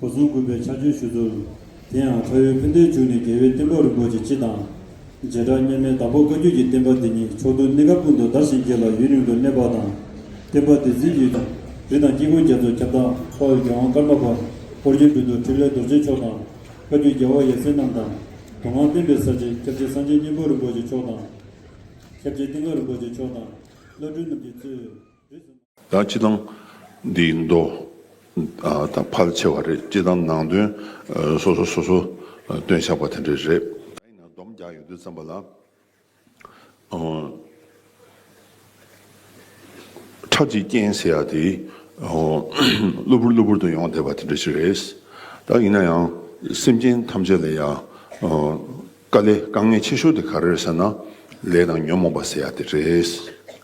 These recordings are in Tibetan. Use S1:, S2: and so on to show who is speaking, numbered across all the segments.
S1: གོ་མཚོན་དགོས་པའི་ཕྱག་རྗེས་ཞུ་ཚུལ། དེ་ཡང་ཁྲ་ཡོལ་ཕན་བདེའི་འཇུག་ནས་རྒྱལ་བའི་བསྟན་པ་རིན་པོ་ཆེ་སྤྱི་དང། རྗེ་གྲགས་སྙན་མའི་བདག་པོ་བཀའ་བརྒྱུད་ཀྱི་བསྟན་པ་འདི་ཉིད་ཕྱོགས་མཐུན་གནས་སྐབས་ཀུན་ཏུ་དར་ཞིང་རྒྱས་ལ་ཡུན་རིང་དུ་གནས་པ་དང། བསྟན་པ་འདི་འཛིན་ཡུལ་དང་རི་དང་དཀྱིལ་འཁོར་རྒྱ་མཚོ་ཁྱབ་བདག་དཔའ་བོ་རྒྱལ་དབང་ཀརྨ་པ་ཧོར་གྱི་མདུན་དུ་ཕྲིན་ལས་རྡོ་རྗེ་མཆོག་དང། བཀའ་བརྒྱུད་རྒྱལ་བ་ཡབ་སྲས་རྣམས་དང། དུང་ངང་བསྟན་པའི་ས་ཆེན་ཁྱབ་བྱེད་སངས་རྒྱས་སྙིང་པོ་རིན་པོ་ཆེ་མཆོག་དང། ཁྱབ་བྱེད་གཏིང་དཀར་རིན་པོ་ཆེ་མཆོག་དང། བླ་སྤྲུལ་རྣམས་ཀྱིས་གཙོས། ད་སྤྱི་དང། འདི་མདོ། དང་ཕལ་ཆེ་བ་རེད་སྤྱི་དང་ནང་དོན། སོ་སོ་སོ་སོ། སྟོན་བཞག་པ་དེ་འདྲས་རེད། ད་ཡིན་ན་སྡོམ་རྒྱག་ཡོང་དུས་བརྩམས་པ་ལ། ཁྲག་གཅིག་རྐྱེན་ཟེར་ཡག་དེ། གློ་བུར་གློ་བུར་དུ་ཡོང་བསྡད་པ་དེ་འདྲས་ཞིག་རེད། ད་ཡིན་ན་ཡང། སེམས་ཅན་ཐམས་ཅད་ལ་ཡང། དཀའ་ལས་དཀའ་ངལ་ཆེ་ཤོས་དེ་ག་རེད་ཟེར་ན། ལས་དང་ཉོན་མོངས་པ་ཟེར་ཡ་དེ་རེད།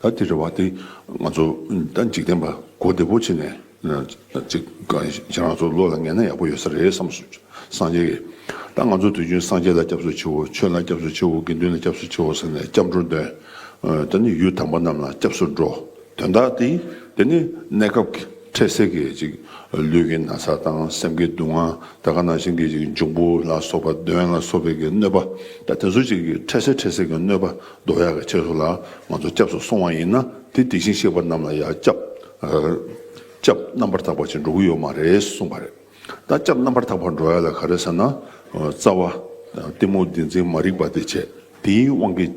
S1: ད་དེ་རེད་བ་དེ་ང་ཚོ་ད་འཇིག་རྟེན་པ་གོ་བདེ་པོ་བྱེད་ནས་ཅིག་ཁྱེད་རང་ཚོ་བློ་ལ་ངེས་ན་ཡག་པོ་ཡོད་ས་རེད་བསམ་སོང་སངས་རྒྱས་ཀྱི་ད་ང་ཚོ་དུས་རྒྱུན་སངས་རྒྱས་ལ་སྐྱབས་སུ་མཆིའོ་ཆོས་ལ་སྐྱབས་སུ་མཆིའོ་དགེ་འདུན་ལ་སྐྱབས་སུ་མཆིའོ་ཟེར་ནས་སྐྱབས་འགྲོ་འདོན། ད་ནི་ཡུལ་དམ་པ་རྣམས་ལ་སྐྱབས་སུ་འགྲོ་དོན་དག་དེ་དེ་ནི་གནས་སྐབས་ཀྱི་འཕྲལ་སེལ་གྱི་ཅིག་ལུས་ཀྱི་ན་ཚ་དང་སེམས་ཀྱི་སྡུག་བསྔལ་དེ་ག་ནང་བཞིན་གྱི་ཅིག་འབྱུང་པོ་ལ་སོགས་པ་གདོན་ལ་སོགས་པའི་ཀྱི་གནོད་པ་དང་དེ་ཚོ་ཅིག་གི་འཕྲལ་སེལ་འཕྲལ་སེལ་གྱི་གནོད་པ་བཟློག་ཡག་གི་ཕྱིར་སོགས་ལ་ང་ཚོ་སྐྱབས་སུ་སོང་བ་ཡིན་ན་དེ་དེ་བཞིན་གཤེགས་པ་རྣམས་ལ་ཡང་སྐྱབས་རྣམ་པར་དག་པ་ཅིག་འགྲོ་གི་ཡོད་མ་རེད་གསུངས་པ་རེད། ད་སྐྱབས་རྣམ་པར་དག་པར་འགྲོ་ཡག་ལ་ག་རེ་ཟེར་ན་རྩ་བ། གཏི་མུག་འདི་འཛིན་མ་རིག་པ་འདི་བྱེད་དེའི་དབང་གིས།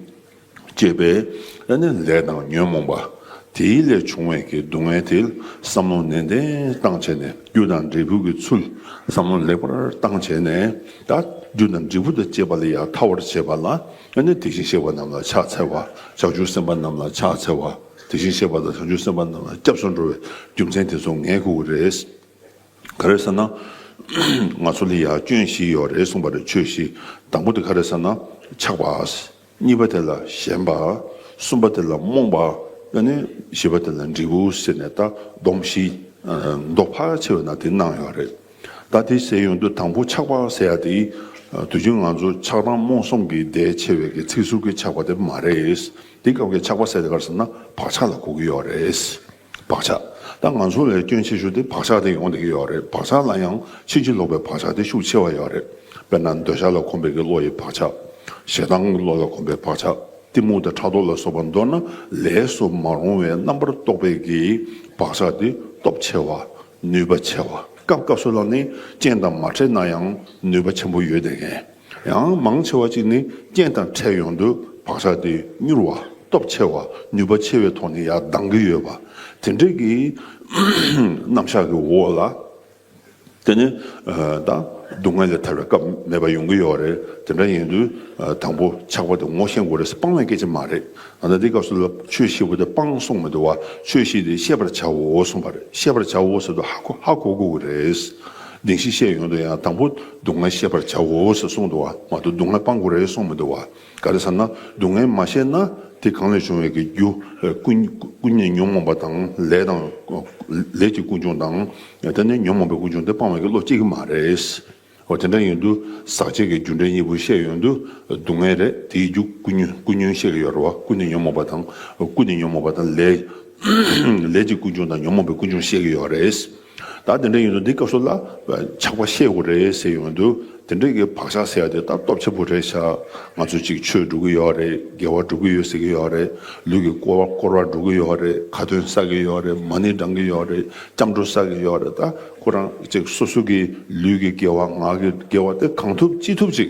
S1: ཅེས་པས་ཨ་ནི་ལས་དང་ཉོན་མོངས་པ་དེའི་ལས་བྱུང་བས་ཀྱི་སྡུག་བསྔལ་དེ་བསམ་བློ་ནན་ཏན་བཏང་བྱས་ནས་རྒྱུ་དང་འབྲས་བུ་ཀྱི་ཚུལ་བསམ་བློ་ལེགས་པར་བཏང་བྱས་ནས་ད་རྒྱུ་དང་འབྲས་བུ་དང་བཅས་པ་ལ་ཡང་ཐར་བར་བྱེད་པ་ལ་ཨ་ནི་དེ་བཞིན་གཤེགས་པ་རྣམས་ལ་ཕྱག་འཚལ་བ་བྱང་ཆུབ་སེམས་དཔའ་རྣམས་ལ་ཕྱག་འཚལ་བ་དེ་བཞིན་གཤེགས་པ་ལ་བྱང་ཆུབ་སེམས་དཔའ་རྣམས་ལ་སྐྱབས་སུ་འགྲོ་བའི་རྒྱུ་མཚན་དེ་ཚོ་ངས་གོ་རེས་ག་རེ་ས་ན་ང་ཚོ་ལ་ཡང་སྐྱོན་བཞི་ཡོད་རེ་གསུངས་པ་རེ་ཆོས་བཞི་དང་པོ་དེ་ག་རེ་ས་ན་ཆགས་པ། གཉིས་པ་དེ་ལ་ཞེན་པ། གསུམ་པ་དེ་ལ་རྨོངས་པ། བཞི་པ་དེ་ལ་འབྲས་བུ་ཟེར་ནས་ད་སྡོམ་བཞི། མདོ་ཕལ་ཆེ་བས་ན་དེ་སྣང་ཡོད་རེད། ད་དེ་ཟེར་ཡོང་དུས་དང་པོ་ཆགས་པ་ཟེར་ཡ་དེ། དུས་རྒྱུན་ང་ཚོ་ཆགས་སྡང་རྨོངས་གསུམ་གྱི་ཟླས་ཕྱེ་བའི་གི་ཚིག་ཟུར་གྱི་ཆགས་པ་དེ་མ་རེད། དེ་སྐབས་ཀྱི་ཆགས་པ་ཟེར་དགར་ཟེར་ན་བག་ཆགས་ལ་གོ་གི་ཡོད་རེད། བག་ཆགས། ད་ང་ཚོ་ལས་སྐྱོན་ཆེ་ཤོས་དེ་བག་ཆགས་དེ་ཡོང་བསྡད་ཀྱི་ཡོད་རེད་བག་ཆགས་ལ་ཡང་ཕྱིན་ཅི་ལོག་པའི་བག་ཆགས་དེ་ཤུགས་ཆེ་བ་ཡོད་རེད། དཔེར་ན་འདོད་ཆགས་ལ་གོམས་པའི་གི་བློ་ཡི་བག་ཆགས། ཞེ་སྡང་གི་བློ་ལ་གོམས་པའི་བག་ཆགས་གཏི་མུག་དང་ཕྲག་དོག་ལ་སོགས་པ་མདོར་ན་ལས་སུ་མ་རུང་བའི་རྣམ་པར་རྟོག་པའི་གི་བག་ཆགས་དེ་སྟོབས་ཆེ་བ། ནུས་པ་ཆེ་བ། སྐབས་སྐབས་སུ་ལ་ནི་རྐྱེན་དང་མ་འཕྲད་ན་ཡང་ནུས་པ་ཆེན་པོ་ཡོད་བསྡད་མཁན། ཡང་མང་ཆེ་བ་གཅིག་ནི་རྐྱེན་དང་འཕྲད་ཡོང་དུས་བག་ཆགས་དེ་མྱུར་བ། སྟོབས་ཆེ་བ། ནུས་པ་ཆེ་བའི་ཐོག་ནས་ཡར་ལྡང་གི་ཡོད་པ། དེ་འདྲའི་གི་རྣམ་གཞག་གི་འོག་ལ། དེ་ནི་ད་སྡུག་བསྔལ་ལས་ཐར་བའི་སྐབས་མེད་པ་ཡོང་གི་ཡོད་རེད། དེ་འདྲ་ཡིན་དུས་དང་པོ་ཆགས་པ་དེ་ངོ་ཤེས་དགོས་རེད་སྤང་བའི་སྐད་ཆ་མ་རེད། ད་ལྟ་འདི་སྐབས་སུ་ལ་ཆོས་བཞི་པོ་དེ་སྤང་གསུངས་མི་འདུག་བ་ཆོས་བཞི་དེ་ཤེས་པར་བྱའོ་གསུངས་པ་རེད་ཤེས་པར་བྱའོ་ཟེར་དུས་ཧ་གོ་ཧ་གོ་དགོས་ཀྱི་རེད། གདིང་ཤིག་བཤད་ཡོང་དུས་ཡང་དང་པོ་སྡུག་བསྔལ་ཤེས་པར་བྱའོ་ཞེས་གསུངས་འདུག་བ་མ་དོ་སྡུག་བསྔལ་སྤང་དགོས་རེད་གསུངས་མི་འདུག་བ་ག་རེ་ཟེར་ན་སྡུག་བསྔལ་མ་ཤེས་ན་དེ་གང་ལས་བྱུང་བའི་གི་རྒྱུ་ཀུན་ནས་ཉོན་མོངས་པ་དང་ལས་དང་ལས་ཀྱི་ཀུན་འབྱུང་དང་དེ་ནས་ཉོན་མོངས་པའི་ཀུན་འབྱུང་དེ་སྤང་བའི་གི་བློ་སྐྱེ་གི་མ་རེད་བ་དེ་འདྲ་ཡོད་དུ་ཟག་བཅས་ཀྱི་རྒྱུ་འབྲས་གཉིས་པོ་ཤེས་ཡོད་དུ་སྡུག་བསྔལ་རེད་དེའི་རྒྱུ་ཀུན་ཉོན་ཤེས་གི་ཡོད་རེད་བ་ཀུན་ནས་ཉོན་མོངས་པ་དང་ཀུན་ནས་ཉོན་མོངས་པ་དང་ལས་ཀྱི་ཀུན་འབྱུང་དང་ཉོན་མོངས་པའི་ཀུན་འབྱུང་ཤེས་གི་ཡོད་རེད། ད་དེ་འདྲ་ཡིན་ན་འདི་སྐབས་སུ་ལ་ཆགས་པ་ཤེས་དགོས་རེད་ཟེར་ཡོང་དུས་དེ་འདྲ་གི་བག་ཆགས་ཟེར་བ་དེ་ལྟ་སྟོབས་ཆེན་པོ་རེད་ཤག་ང་ཚོ་ཅིག་ཆོས་སྒྲུབ་ཀྱི་ཡོད་རེད་དགེ་བ་སྒྲུབ་ཀྱི་ཡོད་ཟེར་གྱི་ཡོད་རེད་ལུས་ཀྱི་སྐོར་བ་བསྐོར་བ་སྒྲུབ་ཀྱི་ཡོད་རེད་ཁ་ཏོན་བསགས་ཀྱི་ཡོད་རེད་མ་ཎི་བགྲང་གི་ཡོད་རེད་སྐྱབས་འགྲོ་བསགས་ཀྱི་ཡོད་རེད་ད་ཁོ་རང་ཅིག་སོ་སོ་གྱི་ལུས་ཀྱི་དགེ་བ་ངག་གི་དགེ་བ་དེ་གང་ཐུབ་ཅི་ཐུབ་ཅིག་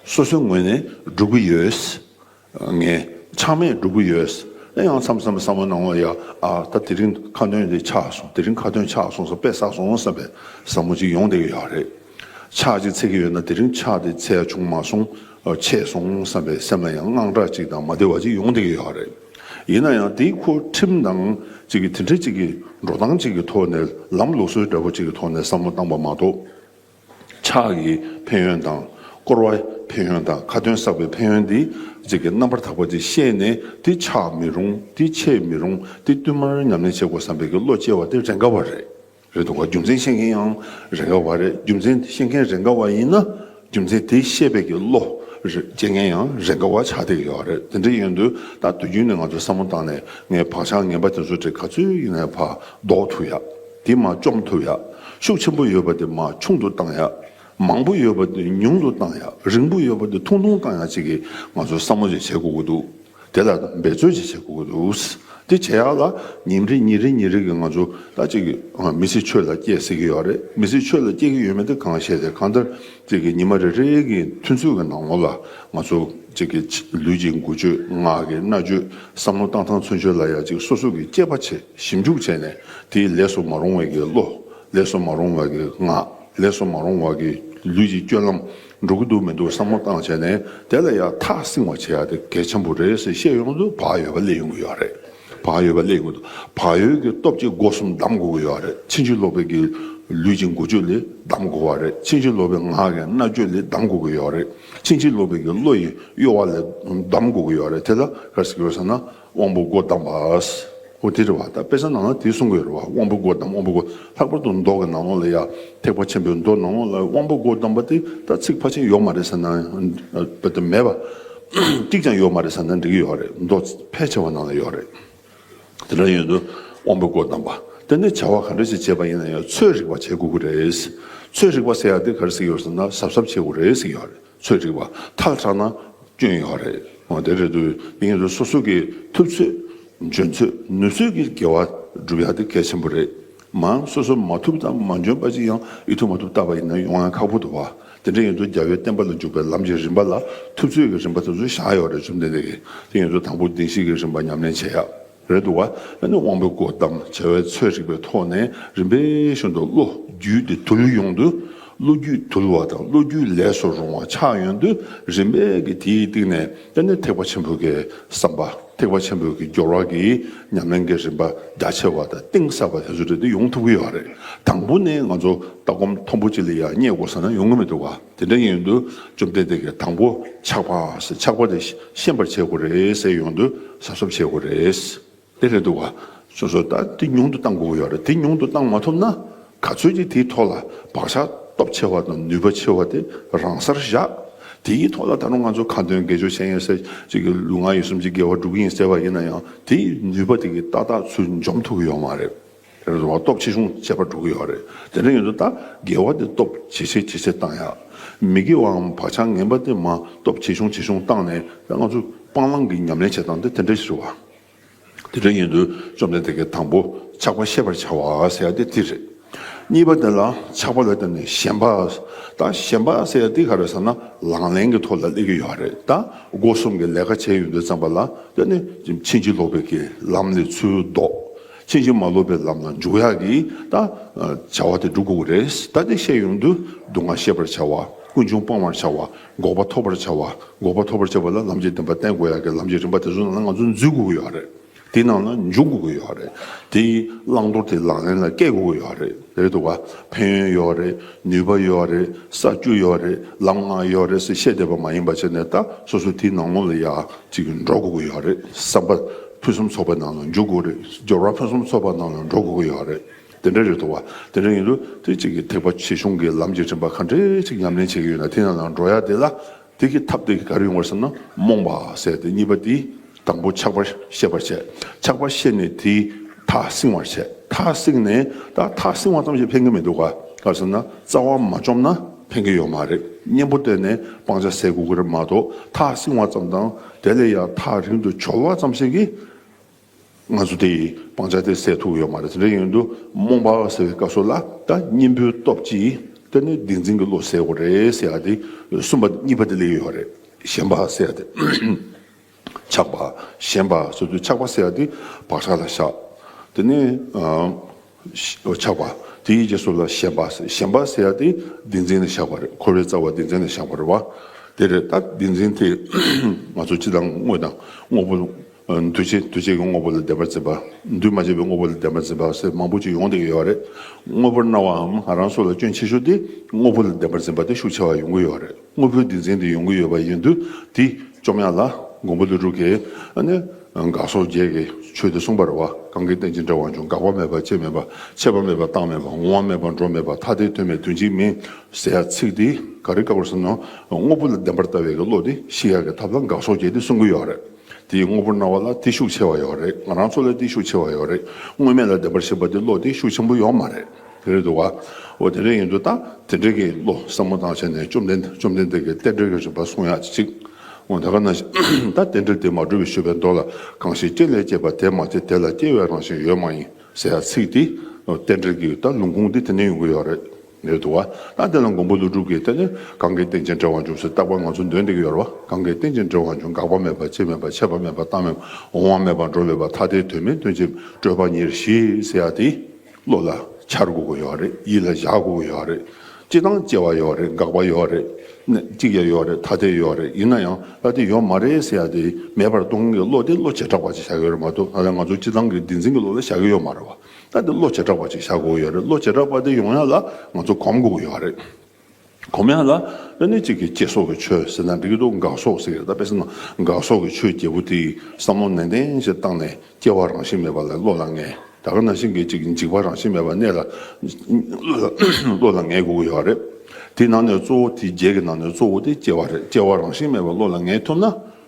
S1: སོ་སོའི་ངོས་ནས་སྒྲུབ་ཀྱི་ཡོད། ངས་ཆང་མེད་འགྲོ་གི་ཡོད། ཡང་མཚམས་མཚམས་བསམ་བློ་གནང་བ་ཡ། ཨ། ད་དེ་རིང་ཁ་འདོན་དེ་ཆགས་སོང་དེ་རིང་ཁ་འདོན་ཆགས་སོང་བསམ་པས་ཟ་སོང་བསམ་པའི་བསམ་བློ་ཅིག་ཡོང་བསྡད་ཀྱི་ཡོད་རེད། ཆགས་ཅིག་ཚེགས་ཀྱི་ཡོད་ན་དེ་རིང་ཆགས་དེ་ཚེགས་བྱུང་མ་སོང། ཆད་སོང་བསམ་པའི་སེམས་ལ་ཡང་དངངས་སྐྲག་ཅིག་དང་མ་བདེ་བ་ཅིག་ཡོང་བསྡད་ཀྱི་ཡོད་རེད། ཡིན་ན་ཡང་དེའི་ཁུ་ཁྲིམས་དང་ཅིག་གི་དེ་འདྲ་ཅིག་གི་འགྲོ་སྟངས་ཅིག་གི་ཐོག་ནས་ལམ་ལུགས་སོ་སྒྲ་པོ་ཅིག་གི་ཐོག་ནས་བསམ་བློ་བཏང་པ་མ་གཏོགས། ཕྱག་གི་ཕན་ཡོན་དང། བསྐོར་བའི་ཕན་ཡོན་དང་ཁ་ཏོན་བསགས་པའི་ཕན་ཡོན་འདི་གཅིག་གི་རྣམ་པར་དག་པ་དེ་ཤེས་ནས་དེ་ཆགས་མི་རུང་དེ་ཆད་མི་རུང་དེ་བསྟུད་མར་ཉམས་ལེན་བྱེད་དགོས་བསམ་པའི་གི་བློ་སྐྱེ་བ་དེ་རེ་འགའ་བ་རེད་རེད་འདུག་ག་རྒྱུ་མཚན་ཤེས་མཁན་ཡང་རེ་འགའ་བ་རེད་རྒྱུ་མཚན་ཤེས་མཁན་རེ་འགའ་བ་ཡིན་ན་རྒྱུ་མཚན་དེ་ཤེས་པའི་གི་བློ་སྐྱེ་མཁན་ཡང་རེ་འགའ་བ་ཆགས་བསྡད་ཡོད་རེད་དེ་འདྲ་ཡིན་དུས་ད་དུས་རྒྱུན་ནས་ང་ཚོས་བསམ་བློ་བཏང་ནས་ངའི་བག་ཆགས་ངན་པ་དེ་ཚོ་དེ་ག་ཚོད་ཡིན་ནའི་བར་ཟློག་ཐུབ་ཡ། དེ་མ་བཅོམ་ཐུབ་ཡག་ཤུགས་ཆེན་པོ་ཡོད་པ་དེ་མ་ཆུང་དུ་བཏང་ཡག་མང་པོ་ཡོད་པ་དེ་ཉུང་དུ་བཏང་ཡག་རིང་པོ་ཡོད་པ་དེ་ཐུང་ཐུང་བཏང་ཡག་ཅིག་གིས་ང་ཚོ་བསམ་བློ་ཅིག་བྱེད་དགོས་ཀྱི་འདུག་དེ་ལ་འབད་བརྩོན་ཅིག་བྱེད་དགོས་ཀྱི་འདུག་དེ་བྱེད་ཡག་ལ་ཉིན་རེ་ཉིན་རེ་ཉིན་རེ་གིས་ང་ཚོ་ད་ཅིག་མི་ཚེ་ཆོས་ལ་སྐྱེལ་ཟེར་གྱི་ཡོད་རེད་མི་ཚེ་ཆོས་ལ་སྐྱེལ་གྱི་ཡོད་མེད་དེ་གང་ཤེས་ཟེར་གང་ལྟར་ཅིག་གིས་ཉི་མ་རེ་རེ་གི་ཐུན་ཚོད་ཀྱི་ནང་ངོ་ལ་ང་ཚོ་ཅིག་གིས་ལུས་ཀྱི་མགུ་བཅོས་ངག་གི་རྣ་བཅོས་བསམ་བློ་བཏང་ཐང་ཚུན་ཆོས་ལ་ཡག་ཅིག་སོ་སོ་གིས་སྐྱེལ་པ་བྱེད། ཞིབ་འཇུག་བྱས་ནས་དེའི་ལས་སུ་མ་རུང་བ་གི་བློ། ལས་སུ་མ་རུང་བ་གི་ངག། ལས་སུ་མ་རུང་བ་གི་ལུས་ཀྱི་སྐྱོན་ལམ་འགྲོ་གི་འདུག་མི་འདུག་བསམ་བློ་བཏང་བྱས་ནས་དེ་ལ་ཡང་ཐག་བསྲིང་བ་བྱེད་ཡ་དེ་གལ་ཆེན་པོ་རེད་ཟེར་ཤེས་ཡོང་དུ་བག་ཡོད་པ་སླེབས་ཡོང་གི་ཡོད་རེད། བག་ཡོད་པ་སླེབས་ཡོང་དུ་བག་ཡོད་ཀྱི་སྟོབས་ཀྱིས་སྒོ་གསུམ་བསྡམ་དགོས་ཀྱི་ཡོད་རེད་ཕྱིན་ཅི་ལོག་པའི་གི་ལུས་ཀྱི་མགོ་ཆུ་ལས་བསྡམ་དགོས་བ་རེད་ཕྱིན་ཅི་ལོག་པའི་ངག་གི་རྣ་ཅོ་ལས་བསྡམ་དགོས་ཀྱི་ཡོད་རེད་ཕྱིན་ཅི་ལོག་པའི་གི་བློ་ཡི་གཡོ་བ་ལས་བསྡམ་དགོས་ཀྱི་ཡོད་རེད་དེ་ལ་ག་ཟེར་ཟེར་ན། དབང་པོ་སྒོ་བསྡམས་པས་ཨོ་ཏི་ར་བ་དང་དཔེ་ཆ་ནང་ན་དེ་གསུང་གི་རེད་བ་དབང་པོ་སྒོ་བསྡམས་དབང་པོ་སྒོ་ལྷག་པར་དུ་མདོག་གི་ནང་ལོགས་ལ་ཡ་ཐེག་པ་ཆེན་པོའི་མདོ་ནང་ལོགས་ལ་དབང་པོ་སྒོ་བསྡམས་པ་དེ་ད་ཚིག་ཕར་ཕྱིན་ཡོག་མ་རེད་ས་ན་བ་དེ་མེད་བ། གཅིག་ཀྱང་ཡོག་མ་རེད་ས་ན་འགྲིག་གི་ཡོག་རེད་མདོ་ཕལ་ཆེ་བ་ནང་ལ་ཡོག་རེད། དེ་འདྲ་ཡོད་དུ་དབང་པོ་སྒོ་བསྡམས་པ་དེ་ནི་བྱ་བ་ག་འདྲ་ཞིག་བྱེད་པ་ཡིན་ན་ཡང་ཚོད་རིག་པ་བྱེད་དགོས་ཀྱི་རེད། ཚོད་རིག་པ་ཟེར་ཡག་དེ་ག་རེ་ཟིག་ཡོད་ས་ན་གཟབ་གཟབ་བྱེད་དགོས་རེད་ཟིག་ཡོག་རེད། ཚོད་རིག་པ་ཐག་ཆག་ན་སྐྱོན་ཡོད་རེད་དེ་རེད་འདུག་དེ་ཡིན་དུས་སོ་སོ་གི་ཐུབ་ཚོད་འཇོན་ཚོད་ནུས་ཚོད་ཀྱི་དགེ་བ་སྒྲུབ་ཡག་དེ་གལ་ཆེན་པོ་རེད་མང་སོ་སོ་མ་ཐུབ་དང་མ་འཇོན་པ་གཅིག་ཡང་ཡིད་ཐུབ་མ་ཐུབ་བལྟ་བ་ཡིན་ན་ཡོང་ཡང་ཁག་པོ་འདུག་བ་དེ་འདྲ་ཡིན་དུས་རྒྱལ་བའི་བསྟན་པ་ལ་འཇུག་པའི་ལམ་གྱི་རིམ་པ་ལ་ཐུབ་ཚོད་ཀྱི་རིམ་པ་དེ་ཚོ་བཞག་ཡོད་རེད་བཅོམ་ལྡན་འདས་ཀྱིས་དེ་ཡིན་དུས་དང་པོ་བདེན་བཞི་ཀྱི་རིམ་པ་ཉམས་ལེན་བྱེད་ཡག། རེད་འདུག་བ་ཨ་ནི་དབང་པོའི་སྒོ་གཏམ་བྱ་བའི་ཚོད་རིག་པའི་ཐོག་ནས་རིམ་པས་ཤོར་འདུག་བློ་རྒྱུད་དེ་དུལ་ཡོང་དུས་བློ་རྒྱུད་དུལ་བ་དང་བློ་རྒྱུད་ལས་སུ་རུང་བ་ཆགས་ཡོང་དུས་རིམ་པས་ཀྱི་དེའི་སྟེང་ནས་ཨ་ནི་ཐེག་པ་ཆེན་པོའི་ཀྱི་བསམ་པ་ཐེག་པ་ཆེན་པོའི་ཀྱི་སྦྱོར་བ་ཀྱི་ཉམས་ལེན་ཀྱི་རིམ་པ་རྒྱ་ཆེ་བ་དང་གཏིང་ཟབ་པ་དེ་ཚོ་རེད་འདུག་ཡོང་ཐུབ་ཀྱི་ཡོད་རེད་དང་པོ་ནས་ང་ཚོ་ལྟ་སྒོམ་མཐོན་པོ་ཅིག་ལ་ཡང་རྙེད་དགོས་ས་ན་ཡོང་གི་མི་འདུག་བ། དེ་འདྲ་ཡོང་དུས་བཅོམ་ལྡན་འདས་ཀྱིས་དང་པོ་ཆགས་པ་ཟེར་ཆགས་པ་དེ་ཤེས་པར་བྱེད་དགོས་རེད་ཟེར་ཡོང་དུས་གཟབ་གཟབ་བྱེད་དགོས་རེད། དེ་རེད་འདུག་བྱུང་སོང་ད་དེ་ཉུང་དུ་གཏང་དགོས་ཀྱི་ཡོད་རེད་དེ་ཉུང་དུ་གཏང་མ་ཐུབ་ན་ག་ཚོད་ཀྱིས་དེའི་ཐོག་ལ་བག་ཆགས་སྟོབས་ཆེ་བ་དང་ནུས་པ་ཆེ་བ་དེ་རང་སར་བཞག་དེའི་ཐོག་ལ་ད་རུང་ང་ཚོ་ཁ་འདོན་དགེ་སྦྱོར་བྱས་ཡིན་ཟེར་གཅིག་གི་ལུས་ངག་ཡིད་གསུམ་གྱི་དགེ་བ་བསྒྲུབ་ཀྱི་ཡིན་ཟེར་བ་ཡིན་ན་ཡང་དེའི་ནུས་པ་དེ་གི་ཏག་ཏག་ཚུལ་འཇོམས་ཐུབ་ཀྱི་ཡོད་མ་རེད། དེ་རུ་འགྲོ་བ་སྟོབས་ཆེ་ཆུང་བཅས་པར་འགྲོ་གི་ཡོད་རེད། དེ་འདྲ་ཡིན་དུས་ད་རྒྱལ་བ་དེ་སྟོབས་ཇེ་ཆེ་ཇེ་ཆེ་བཏང་ཡག་མི་དགེ་བའམ་བག་ཆགས་ངན་པ་དེ་མ་སྟོབས་ཇེ་ཆུང་ཇེ་ཆུང་བཏང་ནས་ད་ང་ཚོས་སྤང་བླང་གི་ཉམས་ལེན་བྱེད་སྟངས་དེ་དེ་འདྲ་ཞིག་རེད་བ། དེ་འདྲ་ཡིན་དུས་བཅོམ་ལྡན་འདས་ཀྱིས་དང་པོ་ཆགས་པ་ཤེས་པར་བྱ་བ་ཟེར་ཡ་དེ་འདི་རེད། གཉིས་པ་དེ་ལ་ཆགས་པ་ལ་བརྟེན་ནས་ཞེན་པ། ད་ཞེན་པ་ཟེར་ཡ་འདི་ག་རེད་ཟེར་ན་ལག་ལེན་གྱི་ཐོག་ལ་སླེབས་ཀྱི་ཡོད་རེད་ད་སྒོ་གསུམ་གྱི་ལས་ཀ་བྱས་ཡོད་དུས་བརྩམས་པ་ལ་བརྟེན་ནས་ཕྱིན་ཅི་ལོག་པའི་ལམ་ལས་ཚུལ་ལྡོག་ཕྱིན་ཅི་མ་ལོག་པའི་ལམ་ལ་འཇུག་ཡག་གི་ད་བྱ་བ་དེ་འགྲུབ་དགོས་རེད་ད་དེ་ཤེས་ཡོང་དུས་སྡུག་བསྔལ་ཤེས་པར་བྱ་བ་ཀུན་འབྱུང་སྤང་བར་བྱ་བ་འགོག་པ་ཐོབ་པར་བྱ་བ་འགོག་པ་ཐོབ་པར་བྱེད་པ་ལ་ལམ་གྱི་བདེན་པ་བསྟན་དགོས་ཡག་གི་ལམ་གྱི་རིམ་པ་དེ་ཚོ་ནང་ལ་ང་ཚོ་འཛུལ་དགོས་ཀྱི་ཡོད་རེད་དེའི་ནང་ལ་འཇུག་དགོས་ཀྱི་ཡོད་རེད་དེའི་བླང་དོར་དེ་ལག་ལེན་ལ་བཀལ་དགོས་ཀྱི་ཡོད་རེད་རེད་འདུག་ག་ཕན་ཡོན་ཡོད་རེད་ནུས་པ་ཡོད་རེད་ས་བཅུ་ཡོད་རེད་ལམ་ལྔ་ཡོད་རེད་ཟེར་བཤད་བསྡད་པ་མ་ཡིན་པ་བྱས་ནས་ད་སོ་སོ་དེའི་ནང་ངོ་ལ་ཡག་ཅིག་འགྲོ་དགོས་ཀྱི་ཡོད་རེད་བསམ་པ། ཕུན་སུམ་ཚོགས་པའི་ནང་ལ་འཇུག་དགོས་རེད། སྦྱོར་བ་ཕུན་སུམ་ཚོགས་པ་ནང་ལ་འགྲོ་དགོས་ཀྱི་ཡོད་རེད། དེ་འདྲ་རེད་འདུག་བ། དེ་འདྲ་ཡིན་དུས་དེ་གཅིག་གིས་ཐེག་པ་ཆེ་ཆུང་གི་ལམ་རྒྱས་ཕྲན་པ་ག་འདྲའི་ཅིག་ཉམས་ལེན་བྱེད་ཀྱི་ཡོད་ན་དེ་ཡང་ལ་འགྲོ་ཡ་དེ་ལ་དེ་གི་ཐབས་དེ་གི་ག་རེ་ཡོང་བར་སེམས་ན་རྨོངས་པ་བསལ་ཏེ་གཉིས་པ་དེ་དང་པོ་ཆགས་པ་ཤེས་པར་བྱས། ཆགས་པ་ཤེས་ནས་དེ་ཐག་བསྲིང་བར་བྱས། ཐག་བསྲིང་ནས་ད་ཐག་བསྲིང་བ་ཙམ་ཞིག་ཕན་གྱི་མི་འདུག་ག་ལ་སེམས་ན་རྩ་བ་མ་བཅོམ་ན་ཕན་གྱི་ཡོད་མ་རེད་གཉེན་པོ་བསྟེན་ནས་སྤང་བྱ་ཟས་གོ་གི་རེད་མ་གཏོགས་ཐག་བསྲིང་བ་ཙམ་དང། དེ་ལས་ཡང་ཐག་རིང་དུ་བྱོལ་བ་ཙམ་ཞིག་གིས། ང་ཚོ་དེ་ཡི་སྤང་བྱ་དེ་སེལ་ཐུབ་ཡོད་མ་རེད། དེ་ཡིན་དུས་རྨོངས་པ་ཟེར་བའི་སྐབས་སུ་ལ་ད་གཉེན་པོའི་སྟོབས་ཀྱིས་དེ་ནི་བདེན་འཛིན་གྱི་བློ་ཟེར་བ་རེད་ཟེར་ཡ་དེ་གསུམ་པ་གཉིས་པ་དེ་ལས་ཡོད་རེད། ཞེན་པ་ཟེར་ཡ་དེ་ཆགས་པ་ཞེན་པ་ཟེར་དུས་ཆགས་པ་ཟེར་ཡ་དེ་བག་ཆགས་ལ་བཞག་དེ་ནི། ཆགས་པ། དེའི་རྗེས་སུ་ལ་ཞེན་པ། ཞེན་པ་ཟེར་ཡ་དེ་བདེན་འཛིན་ལས་བཞག་པ་རེད་འཁོར་བའི་རྩ་བ་བདེན་འཛིན་ལས་བཞག་པ་རེད་བ། དེ་རེད་ད་བདེན་འཛིན་དེས་ང་ཚོ་སྤྱི་དང་དངོས་དང་དངོས་པོ། འདུས་བྱས་འདུས་བྱས་ཀྱི་དངོས་པོ་ལ་བདེན་པར་འཛིན་པ། འདུས་མ་བྱས་པའི་དངོས་པོ་ལ་བདེན་པར་འཛིན་པ་ཟེར་མང་པོ་ཅིག་ཡོང་བསྡད་ཀྱི་ཡོད་བ་རེད། དངོས་པོར་སྣང་བའམ་ང་རང་སོགས་ལ་སྐྱོན་ཆེ་ཤོས་དེ་དངོས་པོ་ལ་བདེན་པར་འཛིན་པ་དེ་ཤུགས་ཆེ་བ་ཡོང་གི་ཡོད་བ་རེད། དངོས་པོའི་བདེན་འཛིན་དེ་ཡོང་གི་ཡོད་པ་ཡིན་དུས་དེ་བཅོམ་ཡང་ལ་མགོན་པོ་ལི་ཀྲུ་གས་ནི་དགག་སོགས་བརྒྱད་ཀྱི་ཆོས་དེ་གསུངས་པར་བ་གང་གིས་བསྟན་ཅི་འདྲ་བ་འབྱུང་འགག་པ་མེད་པ་སྐྱེ་མེད་པ་ཆད་པ་མེད་པ་བཏང་མེད་པ་འོང་བ་མེད་པ་འགྲོ་མེད་པ་ཐ་དད་དོན་མེད་དོན་གཅིག་མིན་ཟེར་ཡ་ཚིག་འདི་ག་རེ་བཀག་པར་བསམ་ན་དངོས་པོ་ལ་བདེན་པར་ལྟ་བའི་ཀྱི་བློ་དེ་ཤི་ཡག་གི་ཐབས་ལ་འགག་སོགས་བརྒྱད་དེ་གསུང་གི་ཡོད་རེད། དེ་ཡི་དངོས་པོར་སྣང་བ་ལ་བརྟུལ་ཤུགས་ཆེ་བ་ཡོད་རེད་ང་རང་ཚོ་ལ་བརྟུལ་ཤུགས་ཆེ་བ་ཡོད་རེད་དངོས་མེད་ལ་བདེན་པར་ཞེན་པ་དེ་བློ་བརྟུལ་ཤུགས་ཆེན་པོ་ཡོད་མ་རེད་དེ་རེད་འདུག་བ། འོ་དེ་འདྲ་ཡིན་དུས་ད་དེ་འདྲ་གི་བློ་བསམ་བློ་བཏང་བྱས་ནས་བཅོམ་ལྡན་བཅོམ་ལྡན་འདས་ཀྱི་གཏེར་འབྲེལ་གྱི་རིམ་པ་གསུང་ཡག་ཅིག་འོང་ད་ག་ན་ཞིག་ད་གཏེར་འབྲེལ་དེ་མ་གྲུབ་པའི་ཞོལ་པའི་མདོ་ལ་གང་ཞིག་སྐྱེ་ལས་སྐྱེས་པ་དེ་མ་སྐྱེས་དེ་ལ་སྐྱེ་བའི་རང་བཞིན་ཡོད་མ་ཡིན་ཟེར་ཡག་ཚིག་དེ་གཏེར་འབྲེལ་གྱི་ད་ལུང་ཁུངས་དེ་དེ་འདྲ་ཡོང་གི་ཡོད་རེད། མེད་དོ། ཨ་དེ་ལ་མགོན་པོ་ཀླུ་སྒྲུབ་ཀྱིས་དེ་ནི་གང་གིས་རྟེན་ཅིང་འབྲེལ་བར་འབྱུང་ཞེས་བརྟག་པར་ང་ཚོ་འདོད་འདི་ཀྱི་ཡོར་བ་གང་གིས་རྟེན་ཅིང་འབྲེལ་བར་འབྱུང་འགག་པ་མེད་པ་སྐྱེ་མེད་པ་ཆད་པ་མེད་པ་བཏང་མེད་པ་འོང་བ་མེད་པ་འགྲོ་བའི་བ་ཐ་དད་དོན་མེད་དོན་ཅིག་སྤྲོས་པ་ཉེར་ཞིའི་ཟེར་ཡ་དེ་བློ་ལ་འཆར་དགོས་ཀྱི་ཡོར་རེད་ཡིད་ལ་བཞག་དགོས་ཀྱི་ཡོར་རེད་སྐྱེ་དང་སྐྱེ་བ་ཡོར་རེད་འགག་པ་ཡོར་རེད་གནས་གཅིག་ཀྱང་ཡོར་རེད་ཐ་དད་ཡོར་རེད་ཡིན་ན་ཡང་ཨ་དེ་ཡོར་མ་རེད་ཟེར་ཡ་དེ་མེད་པར་སྟོང་གི་བློ་དེ་བློ་བྱེ་བྲག་པ་ཅིག་བཞག་གི་ཡོར་མ་གཏོགས་ང་ཚོ་སྤྱི་བཏང་གི་བདེན་འཛིན་གྱི་བློ་ལ་བཞག་གི་ཡོར་མ་རེད་བ། ད་དེ་བློ་བྱེ་བྲག་པ་ཅིག་བཞག་དགོས་ཡོད་རེད་བློ་བྱེ་བྲག་པ་དེ་ཡོང་ཡག་ལ་ང་ཚོ་གོམས་དགོས་ཡོད་རེད། གོམས་ཡག་ལ་ཨ་ནི་གཅིག་གིས་སྐྱེ་སོགས་ཀྱི་ཆོས་ཟེར་ན་འགྲིག་གི་འདུག་འགག་སོགས་ཟེར་གི་རེད་ད་དཔེ་བསམ་ན་འགག་སོགས་ཀྱི་ཆོས་བརྒྱད་པོ་དེ་ཡིས་བསམ་བློ་ནན་ཏན་ཞིག་བཏང་ནས་སྐྱེ་བ་རང་བཞིན་མེད་པ་ལ་བློ་ལ་ངེས་ད་ག་ན་ཤིང་གིས་ཅིག་འཇིག་པ་རང་བཞིན་མེད་པ་གནས་ལ་བློ་ལ་ངེས་དགོས་ཀྱི་ཡོད་རེད། དེའི་ནང་ནས་གཙོ་བོ་དེ་བརྒྱད་ཀྱི་ནང་ནས་གཙོ་བོ་དེ་སྐྱེ་བ་རེད་སྐྱེ་བ་རང་བཞིན་མེད་པ་བློ་ལ་ངེས་ཐུབ་ན་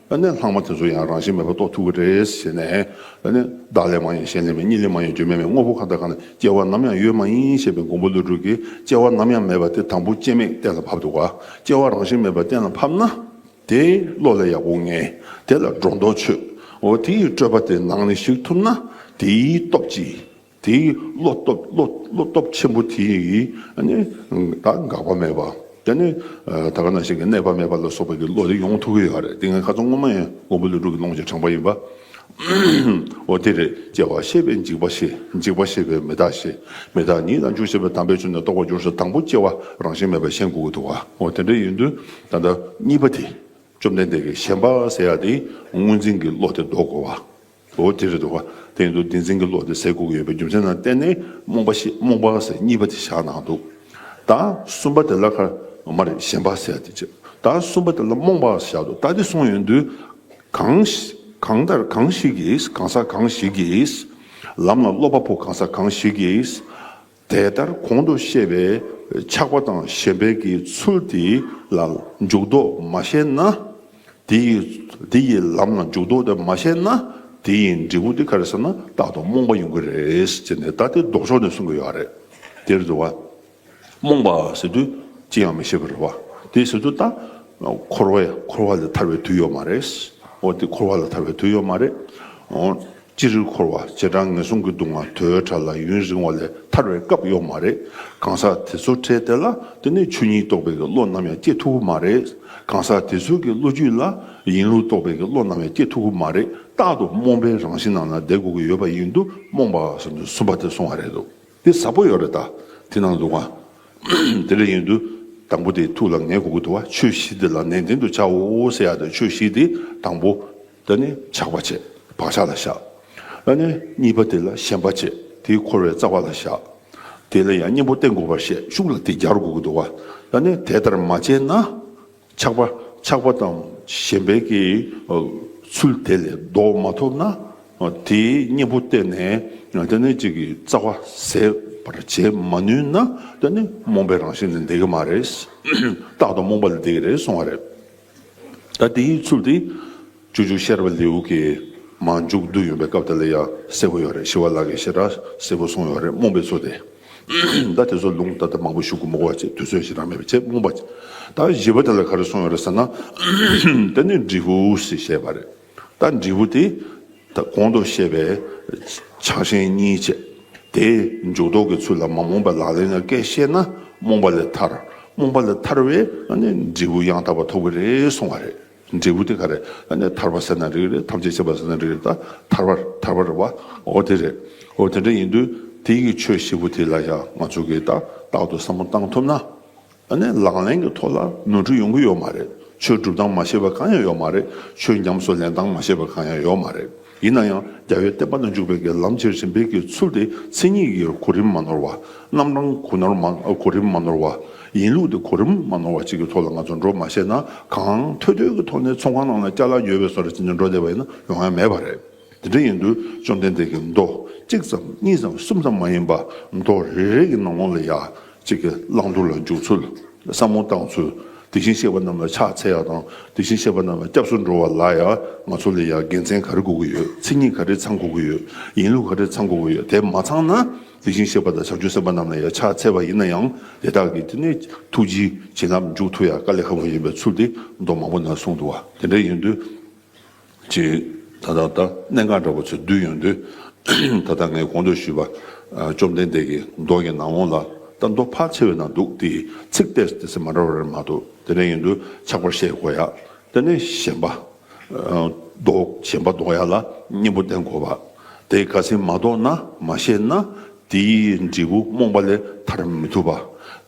S1: ནས་ལྷག་མ་དེ་ཚོ་ཡང་རང་བཞིན་མེད་པར་རྟོགས་ཐུབ་ཀྱི་རེད་ཟེར་ནས། བདག་ལས་མ་ཡིན་གཞན་ལས་མེད་གཉིས་ལས་མ་ཡིན་རྒྱུ་མེད་པའི་དངོས་པོ་གང་དང་གང་ལ་སྐྱེ་བ་ནམ་ཡང་ཡོད་མ་ཡིན་ཞེས་པའི་མགོན་པོ་ཀླུ་སྒྲུབ་ཀྱིས་སྐྱེ་བ་ནམ་ཡང་མེད་པ་དེ་དང་པོ་སྐྱེ་མེད་གཏན་ལ་ཕབ་འདུག་ག་སྐྱེ་བ་རང་བཞིན་མེད་པ་གཏན་ལ་ཕབ་ན། དེ་བློ་ལ་ཡག་པོ་ངེས། དེ་ལ་སྒྲོ་འདོགས་ཆོད། འོ་དེའི་སྤྲོས་པ་དེ་ནང་ནས་ཞིག་ཐུབ་ན་དེའི་སྟོབས་ཀྱིས། དེའི་བློ་སྟོབས་ཆེན་པོ་དེ་ཡིས་ནི་ད་འགག་པ་མེད་པ་དེ་ནི་ད་ག་ན་ཞིག་གི་གནས་པ་མེད་པ་ལ་སོགས་པའི་བློ་དེ་ཡོང་ཐུབ་ཀྱི་ཡོད་རེད་དེ་ངའི་ཁ་ཚོན་ངོ་མ་ཡིན་ཀོང་པོ་ལུགས་དྲུག་གི་ཀློང་ཆེན་དྲངས་པ་ཡིན་པ་འོ་དེ་རེད་ཅེས་པ་ཤེས་པས་འཇིགས་པ་ཤེས་འཇིགས་པ་ཤེས་པས་མི་རྟག་ཤེས་མི་རྟག་ཉིད་དང་འཇུག་ཤེས་པས་དམ་པའི་ཆོས་ནི་རྟོགས་པར་འགྱུར་སོགས་དང་པོ་སྐྱེ་བ་རང་བཞིན་མེད་པར་ཤེས་འགོག་གི་འདུག་བ་འོ་དེ་འདྲ་ཡིན་དུས་ད་ལྟ་གཉིས་པ་དེ་བཅོམ་ལྡན་འདས་ཀྱིས་ཞེན་པ་ཟེར་ཡག་དེའི་དངོས་འཛིན་གྱི་བློ་དེ་ལྡོག་དགོས་བ། ལོ་དེ་རེད་འདུག་ག་དེ་ཡིན་དུས་བདེན་འཛིན་གྱི་བློ་དེ་ཟས་ཁུག་གི་ཡོད་པའི་རྒྱུ་མཚན་ནང་བསྟན་ནི་རྨོངས་པ་ཞེས་རྨོངས་པ་ཟེར་གཉིས་པ་དེ་བཞག་གནང་འདུག་ད་གསུམ་པ་དེ་སླར་ཁར་ངོ་མ་རེད་གཞན་པ་ཟེར་ཏེ་ད་གསུམ་པ་དེ་སླར་རྨོངས་པ་ཞེས་བཞག་འདུག་ད་དེ་གསུངས་ཡོད་དུས་གང་ལྟར་གང་ཞིག་གིས་གང་ཟག་གང་ཞིག་གིས་ལམ་ལ་སློབ་པ་པོ་གང་ཟག་གང་ཞིག་གིས་དེ་ལྟར་གོང་དུ་བཤད་པའི་ཆགས་པ་དང་ཞེན་པའི་གི་ཚུལ་དེ་ལ་འཇུག་ལྡོག་མ་ཤེས་ན། དེ་ཡི་དེ་ཡི་ལམ་ལ་འཇུག་ལྡོག་དེ་མ་ཤེས་ན་དེ་ཡི་འབྲས་བུ་དེ་ག་རེ་ཟེར་ན་རྟག་ཏུ་རྨོངས་པ་ཡོང་གི་རེད་ཅེས་ནས་ད་ལྟའི་ལྡོག་ཕྱོགས་ནས་གསུང་གི་ཡོད་རེད། དེར་འདུལ་བ། རྨོངས་པ་ཟེར་དུས་ཅི་ཡང་མི་ཤེས་པ་རེད་བ། དེ་ཟེར་དུས་ད་འཁོར་བས་འཁོར་བ་ལས་ཐར་བའི་དུས་ཡོད་མ་རེད། འོ་དེ་འཁོར་བ་ལ་ཐར་བའི་དུས་ཡོད་མ་རེད། ཅི་རིགས་འཁོར་བ་བྱེ་བྲག་ངན་སོང་གི་སྡུག་བསྔལ་དོའི་ཕྲ་ལ་ཡུན་རིང་བ་ལས་ཐར་བའི་སྐབས་ཡོག་མ་རེད་གང་ཟག་དེ་ཚོ་ཁྲེལ་དེ་ལ་དེ་ནས་ཆོས་ཉིད་རྟོགས་པའི་གི་བློ་ནམ་ཡང་སྐྱེ་ཐུབ་གི་མ་རེད་གང་ཟག་དེ་ཚོའི་གི་བློ་རྒྱུད་ལ་ཡིན་ལུགས་རྟོགས་པའི་གི་བློ་ནམ་ཡང་སྐྱེ་ཐུབ་གི་མ་རེད་རྟག་ཏུ་རྨོངས་པའི་རང་བཞིན་ནང་ན་བསྡད་དགོས་གི་ཡོད་པ་ཡིན་དུ་རྨོངས་པ་བསམ་ཚུལ་གསུམ་པ་དེ་སོང་བ་རེད་འདུག་དེ་ཟབ་པོ་ཡོག་རེད་ད་དེ་ནང་འདུག་གང་དེ་ལས་ཡིན་དུ་དང་པོ་དེ་ཐུགས་ལ་ངེས་དགོས་གི་འདུག་བ་ཆོས་བཞི་དེ་ལ་ནན་ཏན་དུ་བྱའོ་ཟེར་ཡག་དེ་ཆོས་བཞི་དེ་དང་པོ། ད་ནི་ཆགས་པ་བྱེད་བག་ཆགས་ལ་བཞག། ད་ནི་གཉིས་པ་དེ་ལ་ཞེན་པ་བྱེད་དེའི་འཁོར་བའི་རྩ་བ་ལ་བཞག། དེ་ལ་ཡང་གཉེན་པོ་སྟེ་འགོག་པར་བཤད་ཤུགས་ལ་དེ་བརྒྱར་འགོག་གི་འདུག་བ། ད་ནི་དེ་ལྟར་མ་བྱས་ན། ཆགས་པ་ཆགས་པ་དང་ཞེན་པའི་ཀྱི་ཚུལ་དེ་ལས་ལྡོག་མ་ཐུབ་ན། དེའི་གཉེན་པོ་སྟེ་ནས་ད་ནི་གཅིག་གི་རྩ་བ་ཟད་པར་བྱེད་མ་ནུས་ན། ད་ནི་རྨོངས་པའི་རང་བཞིན་ལ་འདེགས་ཀྱི་མ་རེད། རྟག་ཏུ་རྨོངས་པ་ལ་འདེགས་ཀྱི་རེད་གསུང་བ་རེད། ད་དེའི་ཚུལ་དེ་ཅུ་ཅུ་ཤར་བའི་ལེའུ་གི་མ་མཇུག་བསྡུ་ཡོང་པའི་སྐབས་དེ་ལ་ཡང་གསལ་པོ་ཡོད་རེད་ཞི་བ་ལགས་ཀྱིས་ཤེས་རབ་གསལ་པོ་གསུངས་ཡོད་རེད་རྨོངས་པའི་ཚུལ་དེ། ད་དེ་ཚོ་ལུང་ད་ལྟ་མང་པོ་ཞུ་དགོས་མོ་གོ་ཅེས་དུས་ཚོད་ཞིག་རག་མེད་པའི་ཆེད་རྨོངས་པ་ད་བཞི་པ་དེ་ལ་ག་རེ་གསུངས་ཡོད་རེད་ཟེར་ན། དེ་ནི་འབྲི་ཧུའུ་སིས་བཤད་པ་རེད། ད་འབྲས་བུ་དེ་ད་གོང་དུ་བཤད་པའི་ཆགས་ཞེན་གཉིས་བཅད་དེ་འཇུག་ལྡོག་གི་ཚུལ་ལ་མ་རྨོངས་པའི་ལག་ལེན་ལ་བཀས་བཤད་ན་རྨོངས་པ་ལས་ཐར་རྨོངས་པ་ལས་ཐར་བས་འབྲས་བུ་ཡང་དག་པར་ཐོབ་གི་རེད་གསུང་བ་རེད། འབྲས་བུ་དེ་ག་རེད་ཐར་པ་ཟེར་ན་རིགས་རེད་ཐམས་ཅད་བྱེད་པ་ཟེར་ན་རིགས་རེད་ད་ཐར་བ་ཐར་བ་རེད་བའོ་དེ་རེད་འོ་དེ་འདྲ་ཡིན་དུས་དེ་ཡི་ཆོས་བཞི་པོ་དེ་ལ་ཡང་ང་ཚོ་གིས་ཏག་ཏག་ཏུ་བསམ་བློ་བཏང་ཐུབ་ན། ད་ནས་ལག་ལེན་གྱི་ཐོག་ལ་ནོར་འཁྲུལ་ཡོང་གི་ཡོད་མ་རེད། ཆོས་སྒྲུབ་སྟངས་མ་ཤེས་པ་གང་ཡང་ཡོད་མ་རེད། ཆོས་ཉམས་སུ་ལེན་སྟངས་མ་ཤེས་པ་གང་ཡང་ཡོད་མ་རེད། ཡིན་ན་ཡང་རྒྱ་བོད་བསྟན་པ་ན་འཇུག་པའི་སྒེར་ལམ་ཆེར་ཕྱིན་འབེབས་ཀྱི་ཚུལ་དེ་མཚན་ཉིད་ཀྱི་གོ་རིམ་མ་ནོར་བ། རྣམ་གྲངས་གོ་ནོར་མ་གོ་རིམ་མ་ནོར་བ། ཡིན་ལུགས་དེ་གོ་རིམ་མ་ནོར་བ་བཅས་ཀྱི་ཐོག་ལ་ང་ཚོ་འགྲོ་མ་ཤེས་ན་གང། ཐོལ་ཐོལ་གྱི་ཐོག་ནས་ཚོང་ཁང་ནང་ལ་སྐྱ་ལག་ཉོས་པའི་སོར་རེ་བྱིན་ནས་འགྲོ་བསྡད་པ་ཡིན་ན་ཡོང་ཡ་མེད་པ་རེད། དེ་འདྲ་ཡིན་དུས་བཅོམ་ལྡན་འདས་ཀྱིས་མདོ་གཅིག་ཙམ་གཉིས་ཙམ་གསུམ་ཙམ་མ་ཡིན་པ་མདོ་རེ་རེ་གི་ནང་ངོ་ལ་ཡ་གཅིག་གི་བླང་དོར་ལ་འཇུག་ཚུལ་བསམ་བློ་བཏང་ཚུལ་དེ་བཞིན་གཤེགས་པ་རྣམས་ལ་ཕྱག་འཚལ་བ་དང་དེ་བཞིན་གཤེགས་པ་རྣམས་ལ་སྐྱབས་སུ་འགྲོ་བ་ལ་ཡ་ང་ཚོ་ལ་ཡ་དགེ་མཚན་ག་རེ་དགོས་ཀྱི་ཡོད་མཚན་ཉིད་ག་རེ་ཚང་དགོས་ཀྱི་ཡོད་ཡིན་ལུགས་ག་རེ་ཚང་དགོས་ཀྱི་ཡོད་དེ་མ་ཚང་ན་དེ་བཞིན་གཤེགས་པ་དང་བྱང་ཆུབ་སེམས་དཔའ་རྣམས་ལ་ཡ་ཕྱག་འཚལ་བ་ཡིན་ན་ཡང་དེ་དག་གིས་དེ་ནས་ཐུགས་རྗེའི་བྱིན་རླབས་འཇུག་ཐུབ་ཡ་དཀའ་ལས་ཁག་པོ་ཡིན་པའི་ཚུལ་དེ་མདོ་མང་པོ་ན་གསུངས་འདུག་བ་དེ་འདྲ་ཡིན་དུས། ཅེས་ད་ལྟར་ལྟར་གནས་འགའ་འདྲ་བ་ཚོས་བསྡུས་ཡོང་དུས། ད་ལྟ་ངས་གོང་དུ་ཞུས་པ། བཅོམ་ལྡན་འདས་ཀྱིས་མདོ་ཡི་ནང་འོག་ལ་ལྟ་མདོ་ཕལ་ཆེ་བའི་ནང་འདུག་དེ་ཡི་ཚིག་སྟེ་དེ་ཚིག་མ་འདྲ་བ་རེ་མ་གཏོགས་དེ་འདྲ་ཡིན་དུས་ཆགས་པར་ཤེས་དགོས་ཡ། དེ་ནས་གཞན་པ། མདོ། གཞན་པ་འདོགས་ཡ་ལ་སྙིང་པོ་བསྟན་དགོས་པ། དེ་ག་ཚིག་མ་གཏོགས་ན་མ་ཤེས་ན། དེའི་འབྲས་བུ་རྨོངས་པ་ལས་ཐར་མི་ཐུབ་པ།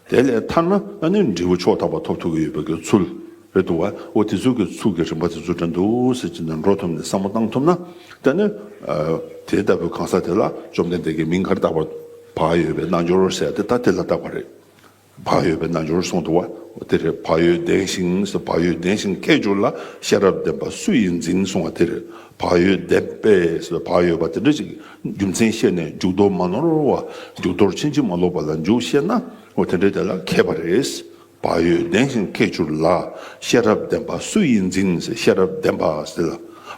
S1: དེ་ལས་ཐར་ན་ནི་འབྲས་བུ་ཕྱོགས་དག་པ་ཐོབ་ཐུབ་ཀྱི་ཡོད་པའི་ཚུལ། བའི་བསྡུ་བ་འོ་དེ་ཚུལ་གྱི་ཚུགས་ཀྱི་རིམ་པ་དེ་ཚུལ་དྲན་དུ་གསལ་གྱི་ནང་འགྲོ་ཐོབ་ནས་བསམ་བློ་བཏང་ཐུབ་ན་དེ་ནི་དེ་ལྟ་བུའི་གང་ཟག་དེ་ལ་བཅོམ་ལྡན་འདས་ཀྱིས་མིང་གར་བཏགས་པ་བག་ཡོད་པའི་རྣལ་འབྱོར་ཟེར་ཏེ་ད་དེ་ལ་བཏགས་པ་རེད། བག་ཡོད་པའི་རྣལ་འབྱོར་གསུངས་འདུག་བ་དེ་རེད་བག་ཡོད་ལྡན་ཞིང་ཟེར་བག་ཡོད་ལྡན་ཞིང་ཁྱད་འབྱོར་ལ་ཤེས་རབ་ལྡན་པ་སུ་ཡིས་འཛིན་གསུངས་བ་དེ་རེད་བག་ཡོད་ལྡན་པས་ཟེར་བག་ཡོད་པ་དེ་འདྲ་ཞིག་རྒྱུ་མཚན་བཤད་ནས་མཇུག་བསྡོ་མ་ནོར་བ་མཇུག་བསྡོར་ཕྱིན་ཅི་མ་ལོག་པ་ལ་འཇུག་བཤད་ན་འོ་དེ་འདྲའི་དེ་ལ་མཁས་པ་རེད། བ་ཡོད་ལྡན་ཞིང་ཁེགས་ཆུར་ལ་ཤེས་རབ་ལྡན་པ་སུ་ཡིས་འཛིན་ཟེར་ཤེས་རབ་ལྡན་པ་ཟེར་ལ་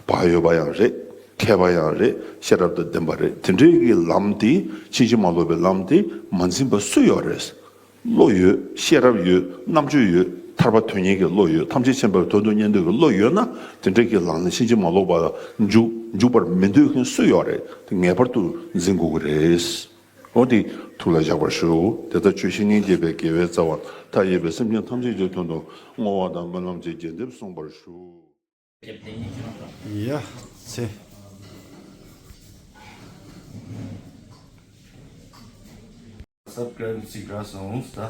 S1: བ་ཡོད་པ་ཡང་རེད་ཁེགས་པ་ཡང་རེད་ཤེས་རབ་དང་ལྡན་པ་རེད་དེ་འདྲའི་གི་ལམ་དེ་ཕྱིན་ཅི་མ་ལོག་པའི་ལམ་དེ་མ་འཛིན་པ་སུ་ཡོད་རེད། བློ་ཡོད་ཤེས་རབ་ཡོད་རྣམ་དཔྱོད་ཡོད་ཐར་པ་དོན་གཉེར་གི་བློ་ཡོད་ཐམས་ཅད་མཁྱེན་པའི་དོན་དུ་གཉེར་འདོད་ཀྱི་བློ་ཡོད་ན་དེ་འདྲའི་གི་ལམ་ནི་ཕྱིན་ཅི་མ་ལོག་པ་འཇུག་འཇུག་པར་མི་འདོད་མཁན་སུ་ཡོད་རེད་དེ་ངེས་པར་དུ་འཛིན་དགོས་ཀྱི་རེད། ལྷོ་འདི་ཐུགས་ལ་བཞག་པར་ཞུ། དེ་ལྟར་ཆོས་བཤེས་གཉེན་བརྒྱད་པའི་དགེ་བའི་རྩ་བ་མཐའ་ཡས་པའི་སེམས་ཅན་ཐམས་ཅད་ཀྱི་དོན་དུ་བསྔོ་བ་དང་སྨོན་ལམ་གྱི་རྒྱས་འདེབས་གསུངས་པར་ཞུ། ཡ། ཚེ། Subscribe
S2: གཅིག་འདྲ་སོང་ཟླ།